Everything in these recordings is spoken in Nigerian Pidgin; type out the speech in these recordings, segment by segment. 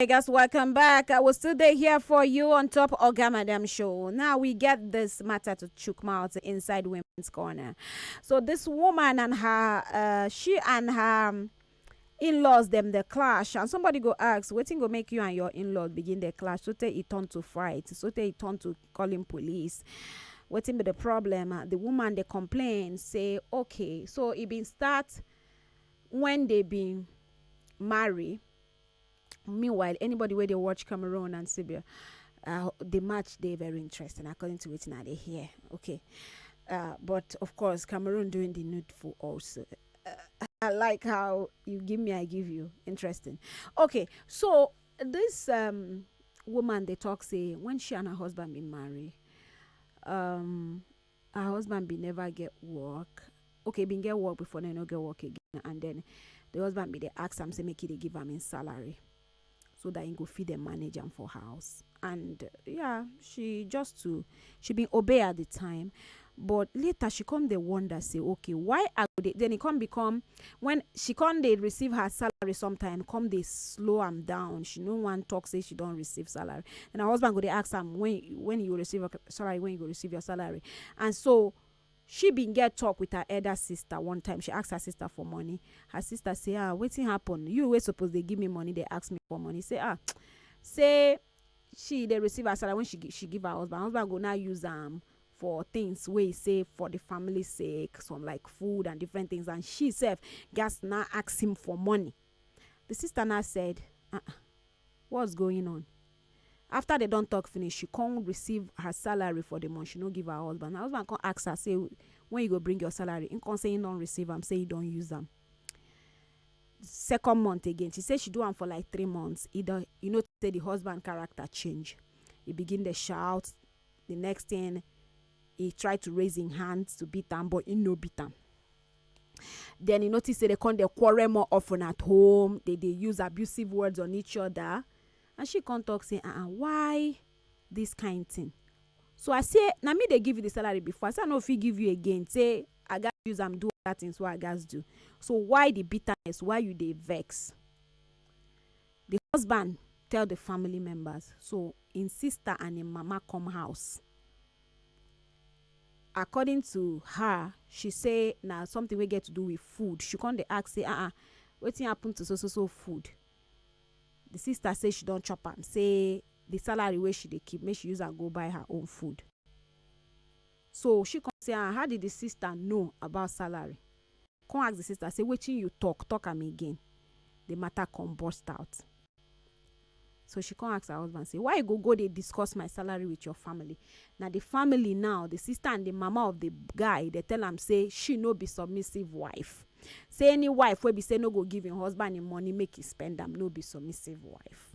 Hey guys, welcome back. I will still there here for you on top Oga Madam Show. Now we get this matter to chook mouth inside Women's Corner. So this woman and her, uh, she and her um, in-laws them the clash and somebody go ask wetin go make you and your in-laws begin the clash so tey e turn to fight so tey e turn to calling police wetin be the problem uh, the woman dey complain say okay so e bin start when they bin marry meanwhile anybody wey dey watch cameroon and serbia uh, the match dey very interesting according to wetin i dey hear okay uh, but of course cameroon doing the needful also uh, i like how you give me i give you interesting okay so this um, woman dey talk say when she and her husband bin marry um, her husband bin never get work okay he bin get work before then he no get work again and then the husband bin dey ask am say make he dey give am him salary so that he go fit dey manage am for house and yeah she just to she bin obey at the time but later she come dey wonder say okay why i go dey then e come become When she come dey receive her salary sometime come dey slow am down she no wan talk say she don receive salary and her husband go dey ask am when when you go receive your salary when you go receive your salary and so she bin get talk with her elder sister one time she ask her sister for money her sister say ah wetin happen you wey suppose dey give me money dey ask me for money say ah say she dey receive her salary when she she give her husband her husband go now use am for things wey e say for di family sake some like food and different things and she sef gatz na ask him for money di sister na said ah what's going on after dem don talk finish she come receive her salary for di month she no give her husband her husband come ask her say when you go bring your salary him come say him don receive am say he don use am second month again she say she do am for like three months he don you know say di husband character change he begin dey shout the next thing he try to raise him hand to beat am but he no beat am then he notice say they come dey quarrel more often at home they dey use abusive words on each other and she come talk say ah why this kind thing so i say na me dey give you the salary before i say i no fit give you again say i gats use am do other things wey i gats do so why the bitterness why you dey vex Di husband tell di family members, so im sister and im mama come house. According to her, she say na something wey get to do with food. She come dey ask say, ah ah, wetin happen to so so so food? Di sister say she don chop am, say di salary wey she dey keep, make she use am go buy her own food. So she come say, ah, how did di sister know about salary? Come ask the sister say wetin you talk, talk am again. The matter come burst out. So she come ask her husband say why you go go dey discuss my salary with your family? Na the family now, the sister and the mama of the guy dey tell am say she no be submissive wife. Say any wife wey be say no go give im husband im money make e spend am no be submissive wife.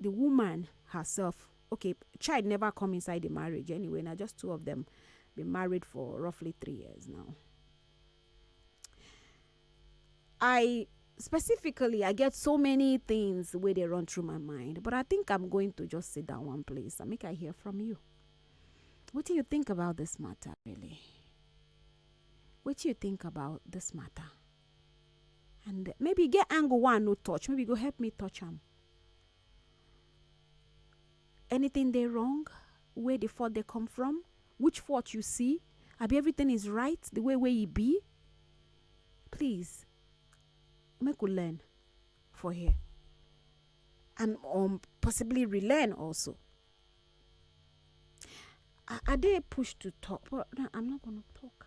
the woman herself okay child never come inside the marriage anyway now just two of them been married for roughly three years now i specifically i get so many things where they run through my mind but i think i'm going to just sit down one place and make i hear from you what do you think about this matter really what do you think about this matter and maybe e get angle wey i no touch maybe you go help me touch am anything dey wrong where the fault dey come from which fault you see abi everything is right the way wey e be please make we learn for here and um, possibly relearn also i, I dey pushed to talk but no, i'm not gonna talk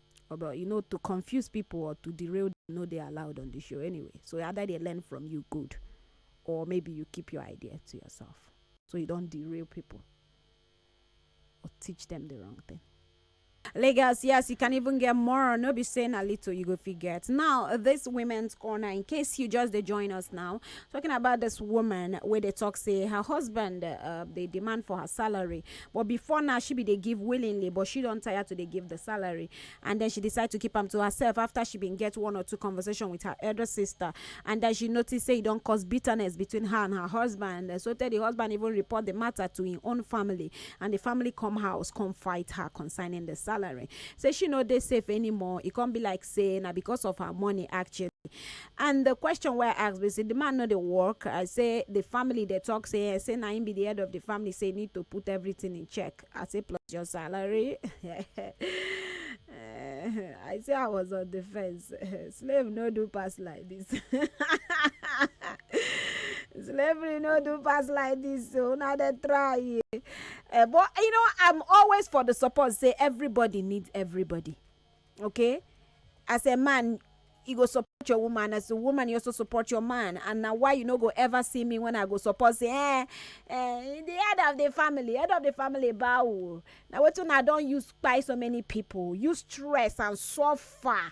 Omo you know to confuse people or to derail them no dey allowed on the show anyway. So I either dey learn from you good or maybe you keep your idea to yourself. So you don't derail people or teach them the wrong thing. Lagos, yes, you can even get more. No be saying a little, you go forget. Now, this women's corner, in case you just they join us now, talking about this woman where they talk say her husband, uh, they demand for her salary But before now, she bin dey give willingly, but she don tire to dey give di salary and den she decide to keep am to herself afta she bin get one or two conversation wit her elder sister and den she notice say e don cause bitterness between her and her husband sotey di husband even report di mata to im own family and di family come house come fight her concerning di salary say she no dey safe anymore e come be like say na because of her money actually. and the question wey i ask be say the man no dey work i say the family dey talk say eh say na him be the head of the family say need to put everything in check i say plus your salary Eh, i say i was on the fence slave no do pass like this slavery no do pass like this so una dey try eh, but you know i'm always for the support say everybody need everybody okay as a man you go support your woman as a woman you also support your man and na why you no go ever see me when i go support say eh eh the head of the family head of the family bow o na wetin una don use kpai so many people use stress and suffer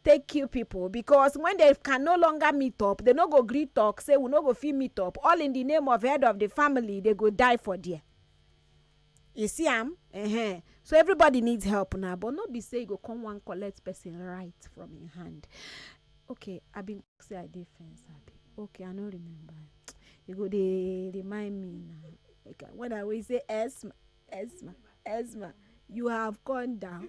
take kill people because when they can no longer meet up they no go gree talk say we no go fit meet up all in the name of head of the family they go die for there You see am? Ehen. So everybody needs help now, but no be say you go come wan collect person right from im hand. Okay, I bin talk say I dey fence abi? Okay, I no remember. You go dey remind me now. Okay, when I will say Esma, Esma, Esma, you have gone down.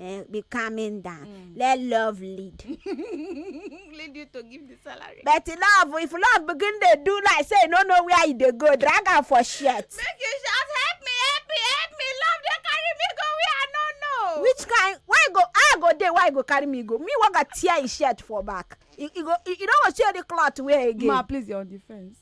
eh, be calming down mm. let love lead lead you to give the salary but love if love begin dey do like say you no know where you dey go drag am for shirt make you shout help me help me help me love dey carry me go where i no know which kind why go i go dey why go carry me go me wey go tear him shirt for back you go you no go see any cloth wear again ma please your defence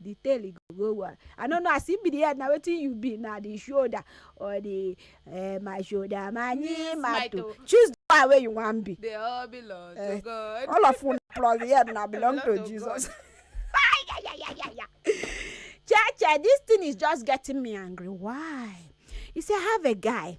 the tail e go go one i no know as e be the head na wetin you be na the shoulder or the eh, my shoulder my knee my toe choose the one wey you wan be they all belong to eh, god all of una plus the head na belong to jesus Cheche, this thing is just getting me angry. Why? You see, I have a guy.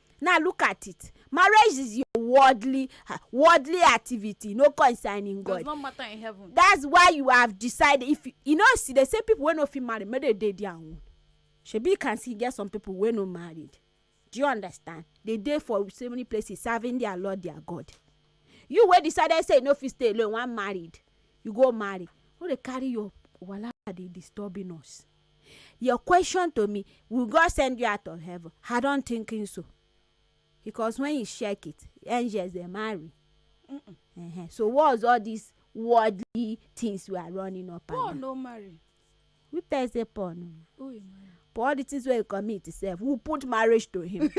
Now look at it. Marriage is your worldly uh, worldly activity, no concerning God. Does not matter in heaven. That's why you have decided. If you, you know, see, they say people when no fit marry, maybe they their own. Shebi you can see get some people when no married. Do you understand? They dey for so many places serving their Lord, their God. You wey decided say you no fit stay alone, one married, you go marry. No dey carry your wahala dey disturbing us. Your question to me, will God send you out of heaven? I don't think so. Because when you check it, angels they marry. Mm -mm. Uh -huh. So what's all these worldly things we are running up Paul and no marry. Who tell say Paul no marry? Paul all the things wey he commit himself, who put marriage to him?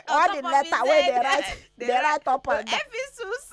all the letter wey dey write dey write up and down. Ephesus.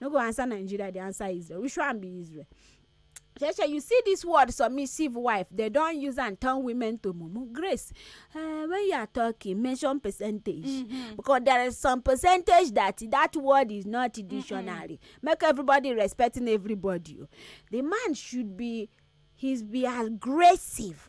no go answer nigeria dey answer israel which one be israel sheshe you see this word submissive wife they don use am turn women to mumu grace uh, when you are talking mention percentage mm -hmm. because there is some percentage that that word is not in dictionary mm -hmm. make everybody respecting everybody the man should be he's be aggressive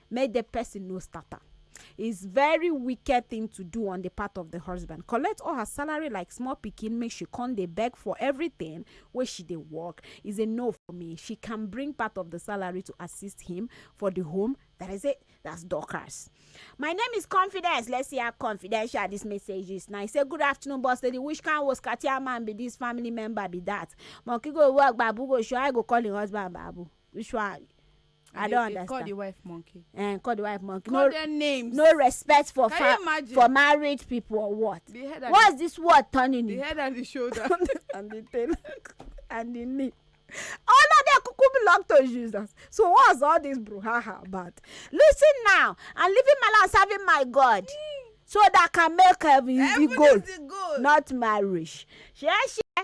make the person no start am. It's very wicked thing to do on the part of the husband. Collect all her salary like small pikin, make she come dey beg for everything wey she dey work. Is a no for me. She can bring part of the salary to assist him for the home. That is it. That's Dorcas. My name is Confidence. Let's see how confidential this message is. Now, I say, Good afternoon, boss lady. Which kind was Katia man be this family member be that? Monkey go work, babu go show. I go call him husband, babu. Which one? i They- don they call the understand wife monkey eh call the wife monkey call no them names no respect for Can you fa imagine? for married people or what the head and what's this word turning the, the in head and the shoulder and the tail and the knee all of them kuku belong to jesus so what's all this bruhaha about listen now i'm living my life serving my god so that i can make heaven is the Heaven goal is the goal. not marriage shey shey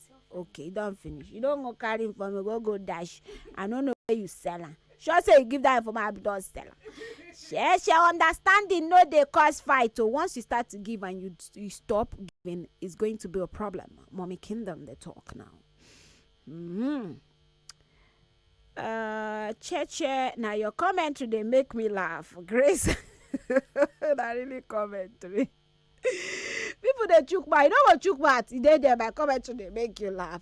okay you don finish you don go carry information go go dash i no know where you sell am sure say you give that information abi you don sell am share share understanding no dey cause fight o once you start to give and you you stop giving it's going to be a problem mommy kingdom dey talk now mm-hmm. uh, cheche na your commentary dey make me laugh grace na really commentary. people dey chook mouth you no go chook mouth e dey there my comment to dey make you laugh.